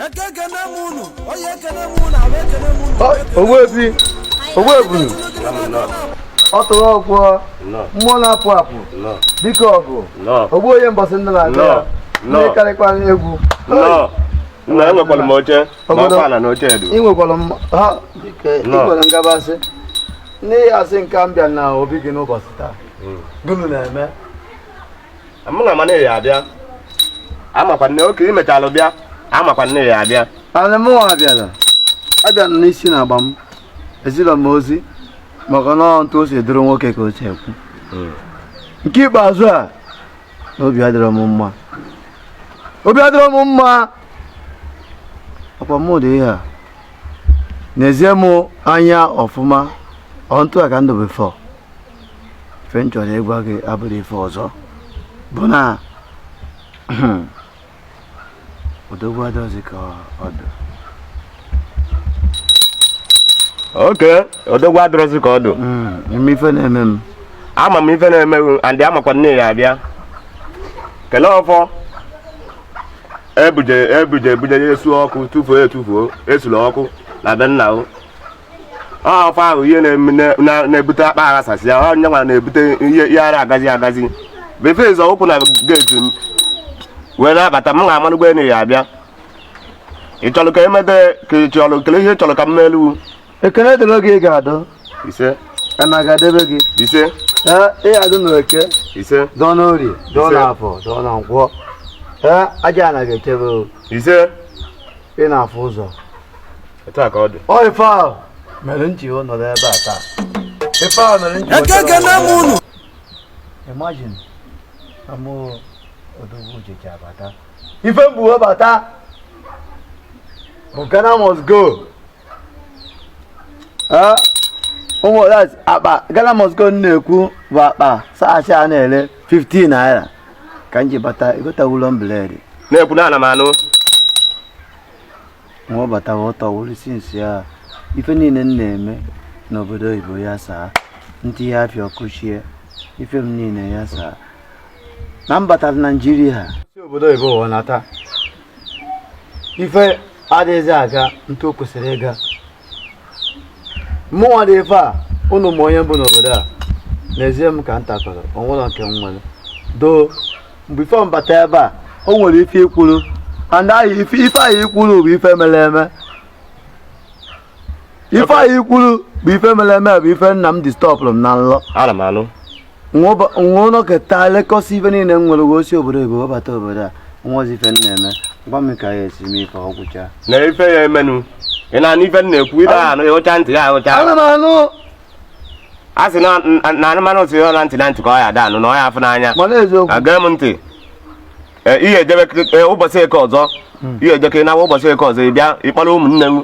eke ekene m unu oye ekene m unu afọ ekene m unu ogbuefi ogbuebunu ọ tụrụ ọgwọ mmụọ na-apụ apụ dike ọgụ ogbu onye mbọsị ndụ na-agụ ya Nnọọ. ị karịkwa egwu Nnọọ. Nna enwekwara m oche ma Obodo- ọkwa ala na oche edu. ị nwekwara m ha dike ị Nnọọ. nwere ngabasị n'ihi asị nke m bịa na obi gị n'ụbọchị taa gịnị na-eme amakwa m na ị ya-abịa amakwa m na oke i mechalụ bịa amakwa m na ị ya-abịa ana mụwa abịala abịa m n'isi na agba m ezilọ m ozi maka na ọ ntu o si dụrụ nwoke ka o si ekwu hmm. nke ikpeazụ a obi adịrọ m mma obi adịrọ m mma ọkwa mụ dị ihe a nezie m anya ọfụma ọ ntu a ka m dụ before ife m chọrọ ịgwa gị abụrọ ife ọzọ bụ na odogwu adụrọzi ka ọ dụ oke odogwu adụrọzi ka ọ dụ ime hmm, ife na-eme m ama m ife na-eme m and amakwa m na ị ya-abịa kelee ọfọ ebuje ebuje ebuje ya esu ọkụ tụfuo etufuo esula ọkụ na be nna o ọkwa ahụ ihe na-ebute akpa saasị a onye nwa na-ebute ihe ada agazi agazi before ị zọọ ụkwụ na geeti m wee na-abata m amalụgo na ị ya-abịa ị chọrọ ka emede ka ị chọrọ kele ihe ị chọrọ ka m melu ekene dịrị gị ị ga-adụ ise ana ga-edebe gị ise ee ị ga-adụ n'eke ise dụọ n'orie dụọ n'afọ dụọ na nkwọ ee aja ana ga-echebe ise ị na-afụ ụzọ etu a ka ọ dị ọ ife ahụ mere m ji nọrọ ebe a taa ife ahụ mere m ji eke ekene m unu imagine na mụ odogwu uche ji abata ife m bu wee bata bụ Ghana must go Eh, ụmụ that's akpa Ghana must go m na-ekwu bụ akpa saasị a na-ere 15 naira ka m ji bata egotawulọ m bread na-ekwu na ana m anụ m wee batawa ọ tọwụrụ since a ife niile m na-eme n'obodo oyibo ya saa ntị ya afịa ọkụchie ife m niile ya saa na m batara naijiria si obodo oyibo wee nata ife adịghịzi aga ntu o kwesịrị ịga mụnwa dị ife a unu ma onye m bụ n'obodo a nezie m ka m takọrọ ọ wụrọ ka m were dụ before m bata ebe a o nwere ife i kwuru and ife ahụ i kwuru bụ ife mere eme ife ahụ i kwuru bụ ife mere eme bụ ife nna m distọpụrụ m na nlọ ana m anụ nwa ụlọ keta lekọsi ife niile m nwere wee si obodo ebe wee bata obodo a nwa ozi ife m na-eme gwa m ka ya esi mee ife ọgwụcha na ife ya emenụ ị na-anụ ife m na-ekwu ị na-anụ ya ụcha ntị ya ahụcha ana m anụ a sị na na anụmanụ si ya na ntị na ntị ka ọ ya ada anụ na ọ ya afụ n'anya mana eziokwu aga m ntị Ee, ihe edebe ee, ụbọchị eke ọzọ ihe edeke na ụbọchị eke ọzọ ị bịa ị kpọrọ ụmụnne m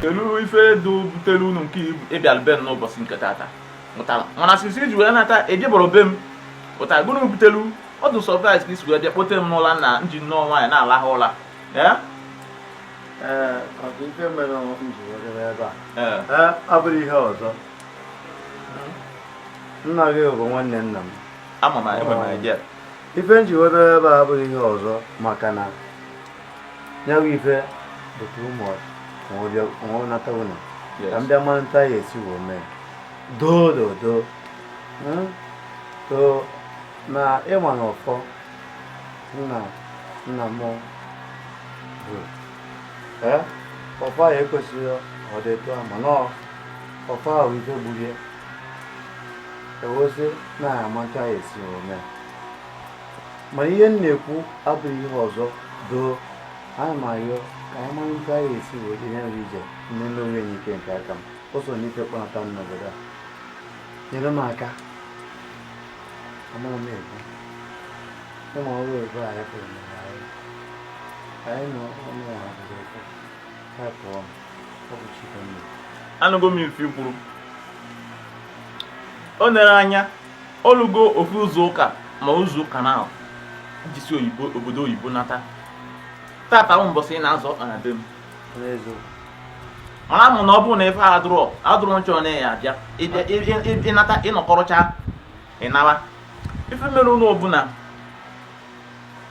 kedu ife dị butere unu nke ị bịara be m n'ụbọchị nke tata pụtara mana sisi i ji wee nata ejebọrọ be m pụtara gụnụ butelu ọ dị surprise ka i si wee bịa kpote m n'ụla na nji nnọọ nwaanyị na-alahụ ụla ife mere m ji were ebe a abụrọ ihe ọzọ nna gị bụ nwanne nna m ama m ife m ji webere ebe a abụrọ ihe ọzọ maka na ya bụ ife bụ too much m wee nata ụlọ ka m bịa mara nta ya esi wee mee doo doo doo hmm? so na ị ma na ọfọ nna nna m bụ ọfọ ya ekwesịghị ọ dị etu a mana ọfọ a bụ ife gburu ya ewezi na-ama nta ya esi wee mee ma ihe m na-ekwu abụrọ ihe ọzọ doo ana m ayọ ka anyị mara nta ya esi wee ihe nri ije nne nne onwe enyi ike nke aka m ụzọ na ife kpọnata m n'obodo a nyere m aka amara m ekwu ị ma ọrụ ebe a ya pụrụ na anyị anyị na ọnụ ya ha bụrụ ekwu anụgo m ife i kwuru o nere anya o lugo ofu izu ụka ma izu ụka naabọ i ji si oyibo obodo oyibo nata tata bụ mbọsị ị na-azọ ọkpa na be m amara m na ọ bụrụ na ife adụrọ adụrọ nchọ na ya abịa ị nata ị nọkọrọcha ị nawa ife merenụ ọ bụ na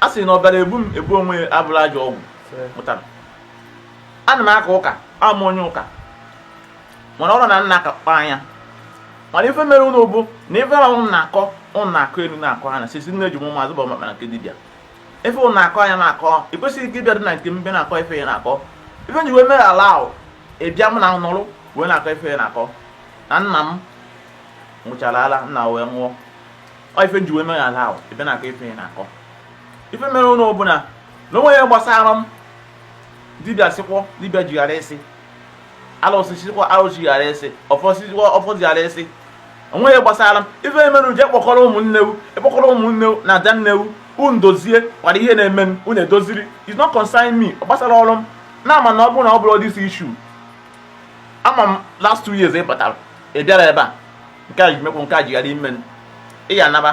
a sị na ọbara ebu m ebu onwe ya abụrụ ajọ ọgwụ pụtara ana m aka ụka abụ m onye ụka mana ọrụ na nna akakpa anya mana ife merenụ bụ na ife ahụ na-akọ ụnụ na-akọ elu na-akọ anya sisi nne ji ụmụ azụ bụ maka na nke dibịa ife ụnụ na-akọ anya na-akọ ị kwesịghị ike ịbịa dị na nke mbe na-akọ ife ya na-akọ ife m ji wee mere ala ahụ ịbịa m na nọrụ wee na-akọ ife ya na-akọ na nna m nwụchara ala nna wee nwụọ ife m ji wee nọ ya ala ahụ ebe na-akọ ife ya na-akọ ife mere nụ bụ na onwe ya gbasara m dibịa sịkwọ dibịa jighara esi alụsị sikwa alụsị jighara esi ọfọ sikwa ọfọ jighara esi onwe ya gbasara m ife emerụ jee kpọkọrọ ụmụnne u kpọkọrọ ụmụnne u na adanne u unu dozie gwara ihe na-eme m unu edoziri is not concern me ọ gbasarọ m na-ama na ọ bụrụ na ọ bụrọ this issue ama m last two years ị batara ị bịara ebe a nke a jimekwu nke a jigharị ime ị ya anaba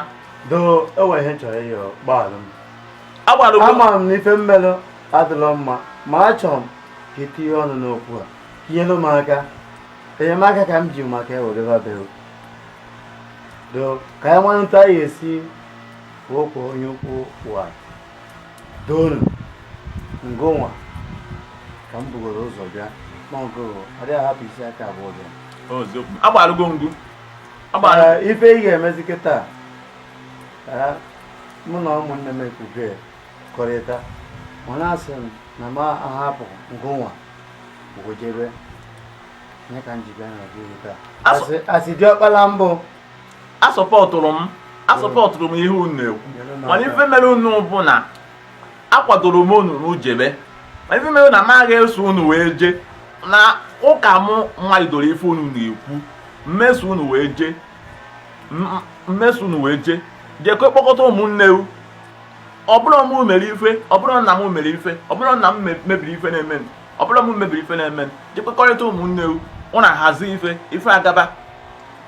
doo e nwe ihe chọrọ ịyọ gbaalụ m agbalụ ama m na ife m melụ adịlọ mma ma achọrọ m ka i tinye ọnụ n'okwu a tinyelụ m aka enyemaka ka m ji maka wee bịa be u doo ka anyị mara etu anyị esi kwuo okwu a doo nụ ngụnwa ka m bugoro ụzọ bịa n'ọgụ adịghị ahapụ isi aka abụọ bịa agbalụgo m ngụ ife ị ga-emezi kịta mụ na ụmụnne m ekwubekọrịta ọ na-asị m na m ahapụ ngụnwa wee jebe nye ka m ji bịa na ọgụ taa asị diọkpala mbụ asọpọtụrụ m asọpọtụrụ m ihe unu na-ekwu mana ife mere nụ bụ na akwadoro m unu jebe mana ife mere na m aga eso unu wee jee na ụka m nwalidoro ife unu na-ekwu m eso unu wee jee m eso unu wee jee jekwe kpọkọta ụmụnne u ọ bụrụ m mere ife ọ bụrụ nna m mere ife ọ bụrụ nna m mebiri ife na-eme ọ bụrụ m mebiri ife na-eme jekwekọrịta ụmụnne u unu hazie ife ife agaba